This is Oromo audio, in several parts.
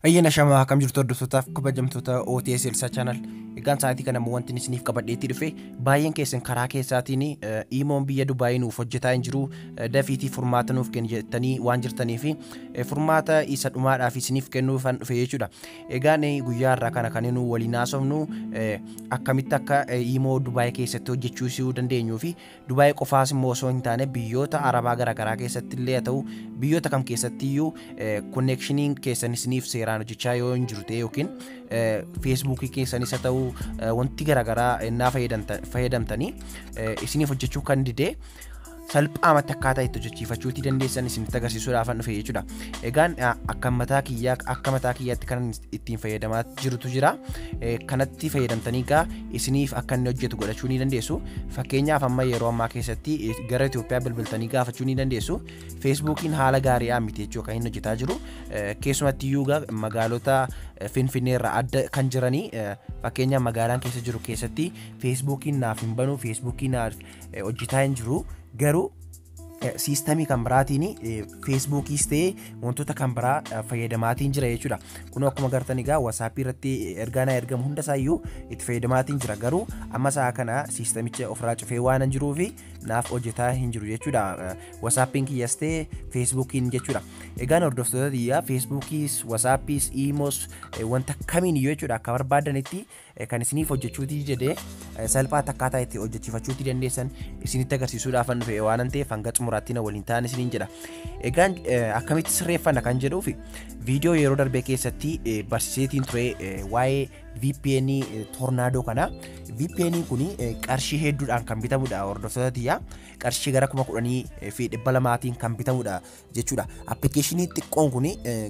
Ayyaana shamaa akkam jirtu hordoftootaaf kabajamtoota OTS Elsa Channel. Egaan sa'aatii kana immoo wanti isiniif qabadheetti dhufe baay'een keessan karaa keessaatiin iimoon biyya Dubaayii nuuf hojjetaa hin jiru dafiitii furmaata nuuf kenni jettanii waan jirtaniif furmaata isa dhumaadhaaf isiniif kennuufan dhufe jechuudha. Egaan guyyaa har'aa kana kan nu waliin haasofnu akkamitti akka imoo Dubaay keessatti hojjechuu isuu dandeenyuu fi Dubaay qofaas immoo osoo hin taane biyyoota Arabaa garaagaraa keessatti illee haa ta'u biyyoota kam keessatti iyyuu konneekshiniin keessan isiniif seeraan hojjechaa yoo hin jiru ta'e yookiin feesbuukii keessanis haa ta'u wanti garaagaraa innaa fayyadamtanii isiniif hojjechuu kan didee salphaamatti akkaataa itti hojjechiifachuu itti dandeessan isinitti agarsiisuudhaaf an dhufe jechuudha. Egaan akka mataa kiyyaa akka mataa kiyyaatti kan ittiin fayyadamaa jirutu jira. Kanatti fayyadamtanii egaa isiniif akka inni hojjetu godhachuu ni dandeessu. Fakkeenyaaf amma yeroo ammaa keessatti gara Itoophiyaa bilbiltanii gaafachuu ni dandeessu. Feesbuukiin haala gaariidhaan miti jechuu kan inni hojjetaa jiru. Keessumatti iyyuu magaalota Finfinnee irraa adda kan jiranii fakkeenyaaf magaalaan keessa jiru keessatti Feesbuukiin naaf hin banu Feesbuukiin naaf eh, hojjetaa hin jiru garuu eh, siistamii kan biraatiin eh, feesbuukiis ta'ee wantoota kan biraa eh, fayyadamaatiin jira jechuudha kun akkuma gartan egaa wasaappii irratti ergaa naa ergamu hunda isaayyuu itti fayyadamaatiin jira garuu amma sa'a kana siistamicha ofirraa cufee waan hin jiruu fi naaf hojjetaa hin jiru jechuudha Eh, wasaappiin kiyyas ta'ee feesbuukiin jechuudha egaan hordoftoota tiyyaa feesbuukiis wasaappiis iimoos eh, wanta kamiin iyyuu jechuudha akka barbaadanitti kan isiniif hojjechuutii jedhee salphaatti akkaataa itti hojjechiifachuutii dandeessan isinitti agarsiisuudhaafan dhufe waanan ta'eef hanga xumuraatti na waliin ta'an isiniin jedha. Egaan akkamitti sirreeffanna kan jedhuuf viidiyoo yeroo darbee keessatti barsiiseetiin ture waa'ee VPN tornaadoo kana. VPN kun qarshii hedduudhaan kan bitamudha hordoftoota tiyyaa. Qarshii gara kuma kudhanii fi dhibba lamaatiin kan bitamudha. jechuudha. Appilikeeshinii xiqqoon kun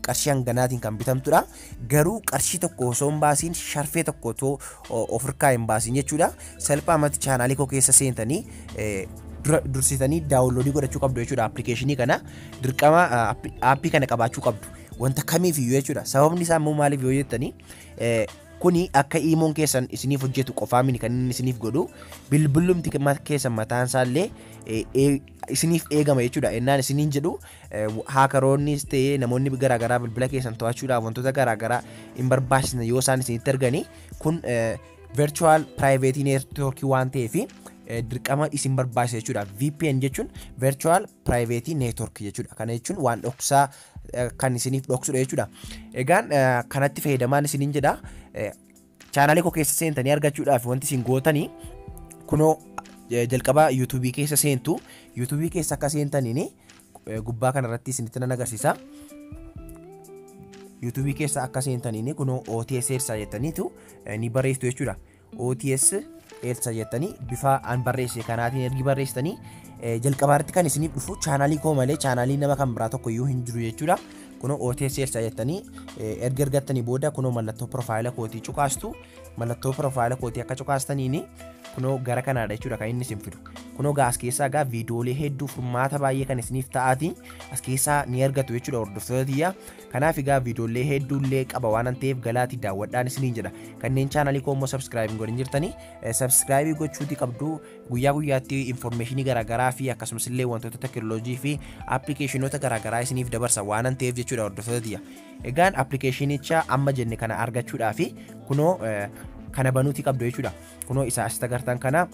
qarshii hanganaatiin kan bitamtudha. Garuu qarshii tokko osoo hin baasiin sharfee tokko otoo of harkaa hin baasiin jechuudha. Salphaamatti chaanaalii koo keessa seentanii dursitanii daawunloodii godhachuu qabdu jechuudha. Appilikeeshinii kana dirqama aappii kana qabaachuu qabdu. Wanta kamiif iyyuu jechuudha. Sababni isaa immoo maaliif yoo jettanii kuni akka iimoon keessan isiniif hojjetu qofaa miti kan inni isiniif godhu bilbillumti keessan mataan isaa illee isiniif eegama jechuudha. Ennaan isiniin jedhu haakaroonnis ta'ee namoonni garaagaraa bilbila keessan to'achuudhaaf wantoota garaagaraa hin barbaachisne yoo isaan isinitti arganii kun virtual private network waan ta'eef dirqama isin barbaachisa jechuudha. VPN jechuun virtual private network jechuudha. Kana jechuun waan dhoksaa kan isiniif dhoksudha jechuudha. Egaan kanatti fayyadamaan isiniin jedha. Channel koo keessa seentanii argachuudhaaf wanti isin gootani kunoo eh, jalqaba YouTube keessa seentu YouTube keessa akka seentaniin eh, gubbaa kana irratti isinitti nan agarsiisa. YouTube keessa akka seentaniin kunoo OTS Elsa jettaniitu eh, ni barreessitu jechuudha. OTS Elsa jettanii bifa an barreesse kanaatiin ergi barreessitanii eh, jalqabaarratti kan isiniif dhufu chaanaalii koo malee chaanaalii nama kan biraa tokko iyyuu hin jiru jechuudha. Kunoo OT Sales jettanii erga ergattanii booda kunoo mallattoo profaayila kootii cuqaastu mallattoo profaayila kootii akka cuqaastaniin kunoo gara kanaadha jechuudha kan inni isin fidu. Kunoo gaa as keessaa gaa viidiyoolee hedduu furmaata baay'ee kan isiniif ta'aati as keessaa ni argatu jechuudha hordoftoota tiyyaa. Kanaaf egaa viidiyoolee hedduullee qaba waan ta'eef galaatii daawwadhaan isiniin jedha. Kanneen chaanalii koo immoo sabskiraayib hin godhin jirtanii sabskiraayibii gochuutii qabdu Guyyaa guyyaatti information garaagaraa fi akkasumas illee wantoota tekinoloojii fi appilikeeshinoota garaagaraa isiniif dabarsa waanan ta'eef jechuudha hordoftoota tiyya. Egaan appilikeeshinicha amma jenne kana argachuudhaa fi kunoo eh, kana banuuti qabdu jechuudha. Kunoo isa asitti agartan kana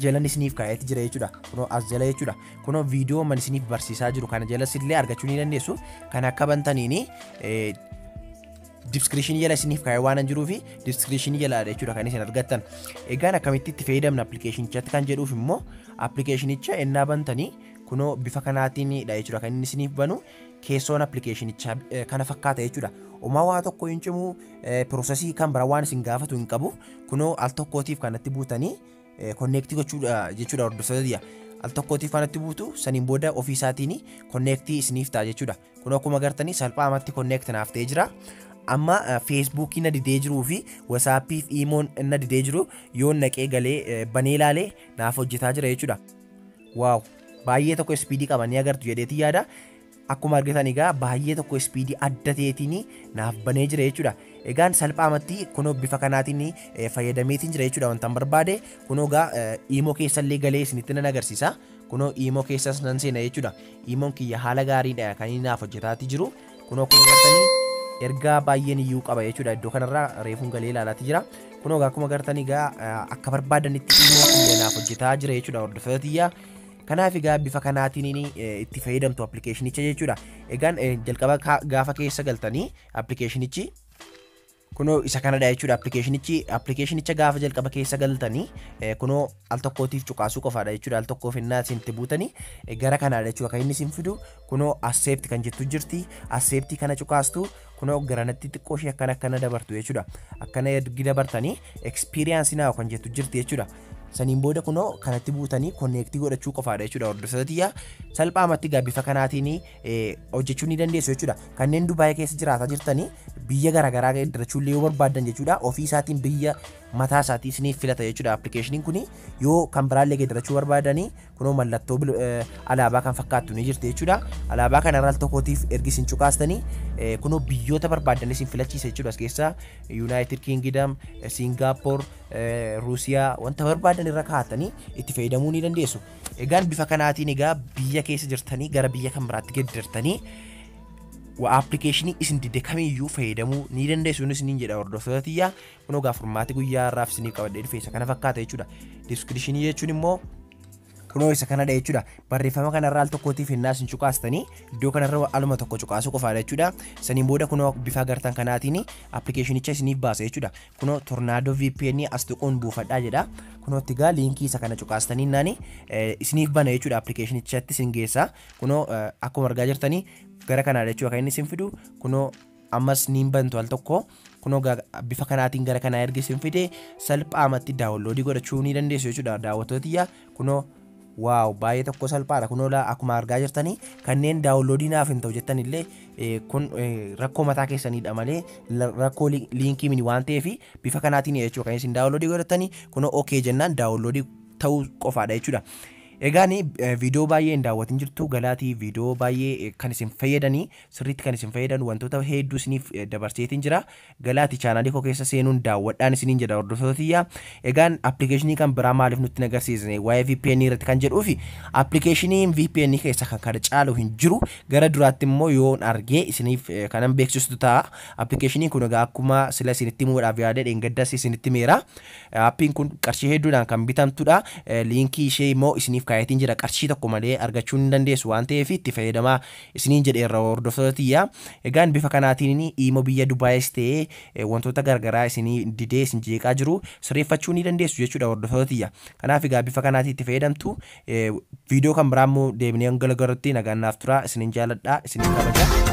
jalan isiniif kaa'eeti jira jechuudha. Kunoo as jala jechuudha. Kunoo viidiyoo man isiniif barsiisaa jiru kana jalas illee argachuu ni dandeessu. Kan akka bantaniini eh, diskiripshinii jala isiniif kaa'ee waan hin jiruuf diskiripshinii jalaadha jechuudha kan isin argattan. Egaan akkamitti itti fayyadamna appilikeeshinichatti kan jedhuuf immoo appilikeeshinicha ennaa bantanii kunoo bifa kanaatiinidha jechuudha kan inni isiniif banu keessoon appilikeeshinichaa eh, kana fakkaata jechuudha. Omaa waa tokko hin cimu eh, piroosesii kan bira waan isin gaafatu hin qabu kunoo al tokkootiif kanatti buutanii konneektii gochuudha jechuudha hordoftoota biyya. Al tokkootiif kanatti buutu saniin booda ofii isaatiin konneektii isiniif ta'a jechuudha. kun akkuma gartanii salphaamatti connect naaf ta'ee jira amma feesbuukii na didee jiruu fi wasaappiif iimoon na didee jiru yoo naqee galee banee ilaalee naaf hojjetaa jira jechuudha waaw baay'ee tokko ispiidii qaba ni agartu jedheetii yaada akkuma argitan egaa baay'ee tokko ispiidii adda ta'eetiin naaf banee jira jechuudha. Egaan salphaamatti kunoo bifa kanaatiin fayyadameetiin jira jechuudha wantan barbaade kunoo egaa iimoo keessallee galee isinitti nan agarsiisa. Kunoo iimoo keessas nan seena jechuudha. Iimoon kiyya haala gaariidha kan inni naaf hojjetaati jiru. Kunoo akkuma gartanii ergaa baay'een iyyuu qaba jechuudha. Iddoo kanarraa reefuun galee ilaalaati jira. Kunoo egaa akkuma gartan egaa akka barbaadanitti iimoo kiyya naaf hojjetaa jira jechuudha hordoftoota tiyyaa. Kanaaf egaa bifa kanaatiin inni itti fayyadamtu appilikeeshinicha jechuudha. Egaan jalqaba gaafa keessa galtanii appilikeeshinichi Kunoo isa kanadha jechuudha appilikeeshinichi. Appilikeeshinicha gaafa jalqaba keessa galtanii eh, kunoo al tokkootiif cuqaasuu qofaadha jechuudha. Al tokkoof innaa isin itti buutanii eh, gara kanaadha jechuudha kan inni isin fidu. Kunoo asseepti kan jettu jirti. Asseeptii kana cuqaastu kunoo garanatti xiqqoo ishee akkana akkana dabartu jechuudha. Akkana ergi dabartanii ekspiriyaansi naaw kan jettu jirti jechuudha. Saniin booda kunoo kanatti buutanii konneektii godhachuu qofaadha jechuudha hordoftoota tiyyaa. Salphaamatti gaa bifa kanaatiin hojjechuu ni dandeessu jechuudha. Kanneen Dubaayii keessa jiraataa jirtanii biyya garaagaraa daldalachuu illee yoo barbaaddan jechuudha ofii isaatiin biyya mataa isaatii isiniif filata jechuudha appilikeeshiniin kun yoo kan biraa illee daldalachuu barbaadanii kunoo mallattoo alaabaa kan fakkaattu ni jirti jechuudha. Alaabaa kana irra al tokkootiif ergi isin cuqaastanii kunoo biyyoota barbaaddan isin filachiisa jechuudha as keessaa Yuunaayitid Kiingidam, Siingaappoor, Ruusiyaa wanta barbaaddan irra kaa'attanii itti fayyadamuu ni dandeessu. Egaan bifa kanaatiin egaa biyya keessa jirtanii gara biyya kan biraatti geddartanii wa appilikeeshinii isin dide kamiyyuu fayyadamuu ni dandeessu innis niin jedha hordoftoota tiyyaa kun ogaa furmaati guyyaa irraaf isiniif qabadhee dhufe isa kana fakkaata jechuudha diskiripshinii jechuun immoo kunoo isa kanadha jechuudha barreeffama kanarraa al tokkootiif hennaa isin cuqaastanii iddoo kanarra aluma tokko cuqaasuu qofaadha jechuudha saniin booda kunoo bifa agartan kanaatiin appilikeeshinicha isiniif baasa jechuudha kunoo tornaadoo VPN as tuquun buufadhaa jedha. Kunoo itti gaa liinkii isa kana cuqaastanii naani isiniif bana jechuudha appilikeeshinichatti isin geessa. Kunoo akkuma argaa jirtanii gara kanaa jechuudha kan inni isin fidu kunoo ammas niin bantu al tokko kunoo bifa kanaatiin gara kanaa erga isin fide salphaamatti daawunloodii godhachuu ni dandeessu jechuudha daawwattoota tiyya Kunoo waaw baay'ee tokko salphaadha kunoo laa akkuma argaa jirtanii kanneen daawunloodii naaf hin ta'u jettan illee eh, kun eh, rakkoo mataa keessaniidha malee la- rakkoo li- liinkii mini waan ta'eef bifa kanaatiin jechuudha kan isin daawunloodii godhattanii kunoo ok jennaan daawunloodii ta'uu qofaadha jechuudha. Egaa ni eh, viidiyoo baay'ee hin daawwatin jirtu galaatii viidiyoo baay'ee eh, kan isin fayyadanii sirriitti kan isin fayyadan wantoota hedduu isiniif eh, dabarseetiin jira Galaati channel koo keessa seenuun daawwadhaan isiniin jedha hordoftoota tiyya. Egaan application kan biraa maaliif nutti hin agarsiisne waa'ee VPN irratti kan jedhuufi application VPN keessa kan kana caalu hin jiru. Gara duraatti immoo yoon argee isiniif eh, kanan beeksistu ta'a. Application kun egaa akkuma sila isinitti himuudhaaf yaadee dheengaddas isinitti himeera. Eh, Appiin kun qarshii hedduudhaan kan bitamtudha. Eh, Liinkii ishee immoo isiniif kaayetiin jira. Qarshii tokko malee argachuu ni dandeessu waan ta'eef itti fayyadamaa isiniin jedheerra hordoftoota tiyya. Egaan bifa kanaatiin iimo biyya Dubaayis ta'ee wantoota gargaraa isinii didee isin jeeqaa jiru sirreeffachuu ni dandeessu jechuudha hordoftoota tiyya. Kanaaf egaa bifa kanaatiin itti fayyadamtu. Viidiyoo kan biraa immoo deebinee hanga gargarutti nagaan naaf tura. Isinin jaaladha, isinin kabaja.